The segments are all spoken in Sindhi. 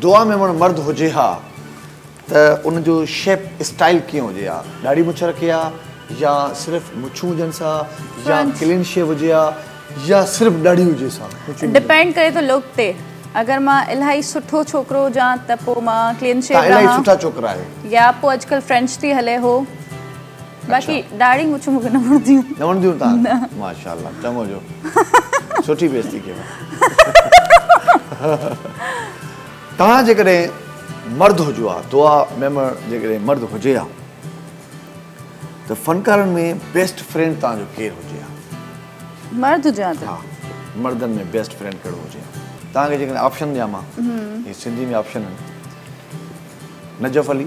دعا ميمڻ مرد هجي ها ته ان جو شيپ اسٽائيل ڪيئن هجي ها ڏاڙهي مڇ رکي ها يا صرف مڇون هجنس ها يا ڪلين شيو هجي ها يا صرف ڏاڙهي هجيس ها ڊپينڊ ڪري ٿو لوڪ تي اگر مان الاهي سٺو ڇوڪرو هجان ته پوء مان ڪلين شيو رهان يا پوء اڄڪلهه فرينچ ٿي هلي هو. باقي ڏاڙهي مڇ مونکي نه وڻنديون. نه وڻنديون تان؟ نه. ماشاءالله چڱو جو سٺي بيستي ڪيو. توهان جيڪڏهن مرد هجو ها دعا ميمڻ جيڪڏهن مرد هجي ها ته فنڪارن ۾ بيسٽ فرينڊ توهان جو ڪير هجي ها؟ مرد هجي ها ته؟ ها مردن ۾ بيسٽ فرينڊ ڪهڙو هجي ها؟ توهان کي جيڪڏهن آپشن ڏيان مان هي سنڌي ۾ آپشن آهن نجف علي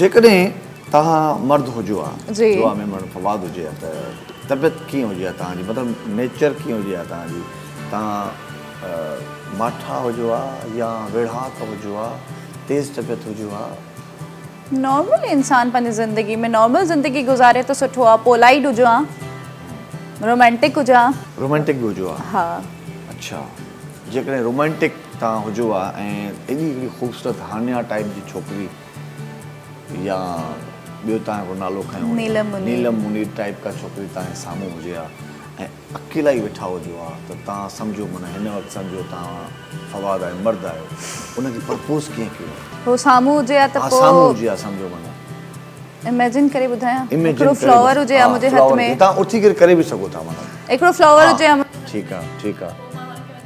جيڪڏهن توهان مرد هجو ها دعا ۾ مڙن فواد هجي ها ته طبيعت ڪيئن هجي ها توهان جي مطلب نيچر ڪيئن هجي ها توهان جي توهان ماٺا هجو ها يا ويڙهاڪ هجو ها تيز طبيعت هجو ها نارمل انسان پنهنجي زندگي ۾ نارمل زندگي گذاري ته سٺو ها پولائيڊ هجو ها رومانٽڪ هجو ها رومانٽڪ به هجو ها ها اڇا جيڪڏهن رومانٽڪ توهان هجو ها ۽ ايڏي هڪڙي خوبصورت هانيا ٽائيپ جي ڇوڪري يا ٻيو توهان هڪڙو نالو کنيو هو نيلم منير نيلم منير ٽائيپ ڪا ڇوڪري توهان جي سامهون هجي ها ۽ اڪيلا ئي ويٺا هجو ها ته توهان سمجهو معنيٰ هن وقت سمجهو توهان فواد آهيو مرد آهيو ان کي پرپوز ڪيئن ڪيو ها. هو سامهون هجي ها ته پوء. ها سامهون هجي ها سمجهو معنيٰ. اميجن ڪري ٻڌايان هڪڙو فلاور هجي ها منهنجي هٿ ۾. توهان اٿي ڪري ڪري به سگهو ٿا معنيٰ. هڪڙو فلاور هجي ها. ٺيڪ آهي ٺيڪ آهي.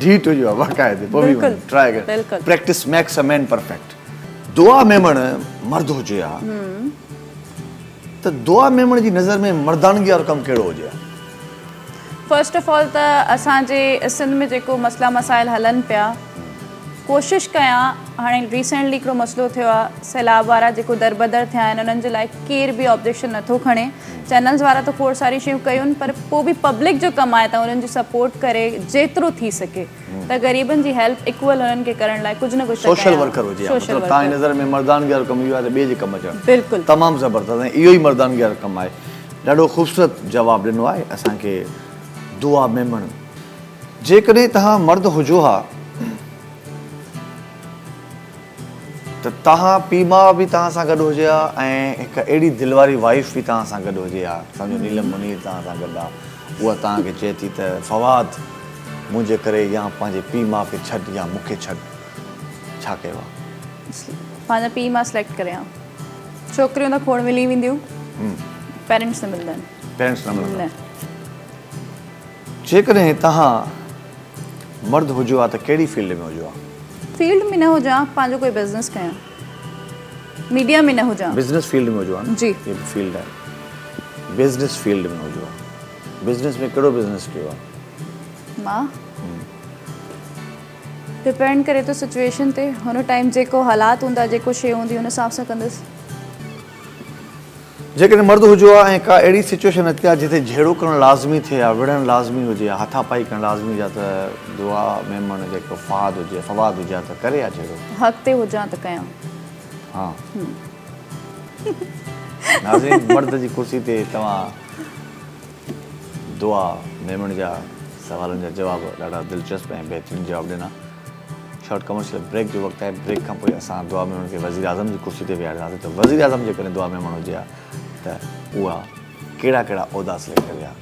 ڍيٽ هجي ها باقاعدي پوي بلڪل ٽرائي ڪر بلڪل practice makes a man perfect Dua Memon مرد هجي ها ته دعا ميمڻ جي نظر ۾ مردانگي وارو ڪم ڪهڙو هجي ها فرسٽ آف آل ته اسان جي سنڌ ۾ جيڪو مسئلا مسائل هلن پيا ڪوشش ڪيان هاڻي ريسينٽلي هڪڙو مسئلو ٿيو آهي سيلاب وارا جيڪو دربدر ٿيا آهن انهن جي لاء ڪير به آبجيڪشن نٿو کڻي چينلز وارا ته کوڙ ساريون شيون ڪيون پر پوء به پبلڪ جو ڪم آهي ته انهن جو سپورٽ ڪري جيترو ٿي سگهي ته غريبن جي هيلپ ايڪول انهن کي ڪرڻ لاء ڪجهه نه ڪجهه ته ڪيان سوشل ورڪر هجي ها مطلب تهان جي نظر ۾ مردانگي وارو ڪم اهو آهي ته ٻئي جي ڪم اچڻ بلڪل تمام زبردست ۽ اهو ئي مردانگي وارو ڪم آهي ڏاڍو خوبصورت جواب ڏنو آهي اسان کي دعا ميمڻ جيڪڏهن تهان مرد هجو ها ته تهان پي ماء به تهان سان گڏ هجي ها ۽ هڪ اهڙي دل واري وائيف به تهان سان گڏ هجي ها اسان جو نيلم منير تهان سان گڏ آ اها تهان کي چئي ٿي ته فواد منهنجي ڪري يا پنهنجي پي ماء کي ڇڏ يا مون کي ڇڏ ڇا ڪيو آ. پنهنجا پي ماء سليڪٽ ڪري ها ڇوڪريون ته کوڙ ملي وينديون پيرنٽس نه ملندا آهن پيرنٽس نه ملندا. جيڪڏهن توهان مرد هجو ها ته ڪهڙي فيلڊ ۾ هجو ها؟ فيلڊ ۾ نه هجان ها پنهنجو ڪوئي بزنس ڪيان ميڊيا ۾ نه هجان ها. بزنس فيلڊ ۾ هجو ها نه؟ جي. هي به فيلڊ آهي. بزنس فيلڊ ۾ هجو ها. بزنس ۾ ڪهڙو بزنس ڪيو ها؟ مان؟ ڊپينڊ ڪري ٿو سچويشن تي هن ٽائيم جيڪو حالات هوندا جيڪو شي هوندي هن حساب سان ڪندس. جيڪڏهن مرد هجو ها ۽ ڪا اهڙي سچوئيشن اچي ها جتي جهيڙو ڪرڻ لازمي ٿئي ها، وڙهڻ لازمي هجي ها، هٿا پائي ڪرڻ لازمي هجي ها ته دعا ميمڻ جيڪو فهاد هجي فواد هجي ها ته ڪري ها جهيڙو. حق تي هجان ته ڪيان. ها. ناظرين مرد جي ڪرسي تي توهان دعا ميمڻ جا سوالن جا جواب ڏاڍا دلچسپ ۽ بهترين جواب ڏنا. شارٽ ڪمرشل بريڪ جو وقت آهي بريڪ کان پوء اسان دعا ميمڻ کي وزيراعظم جي ڪرسي تي ويهارينداسين ته وزيراعظم جيڪڏهن دعا ميمڻ هجي ها ته اها ڪهڙا ڪهڙا عهدا سليڪٽ ڪري ها.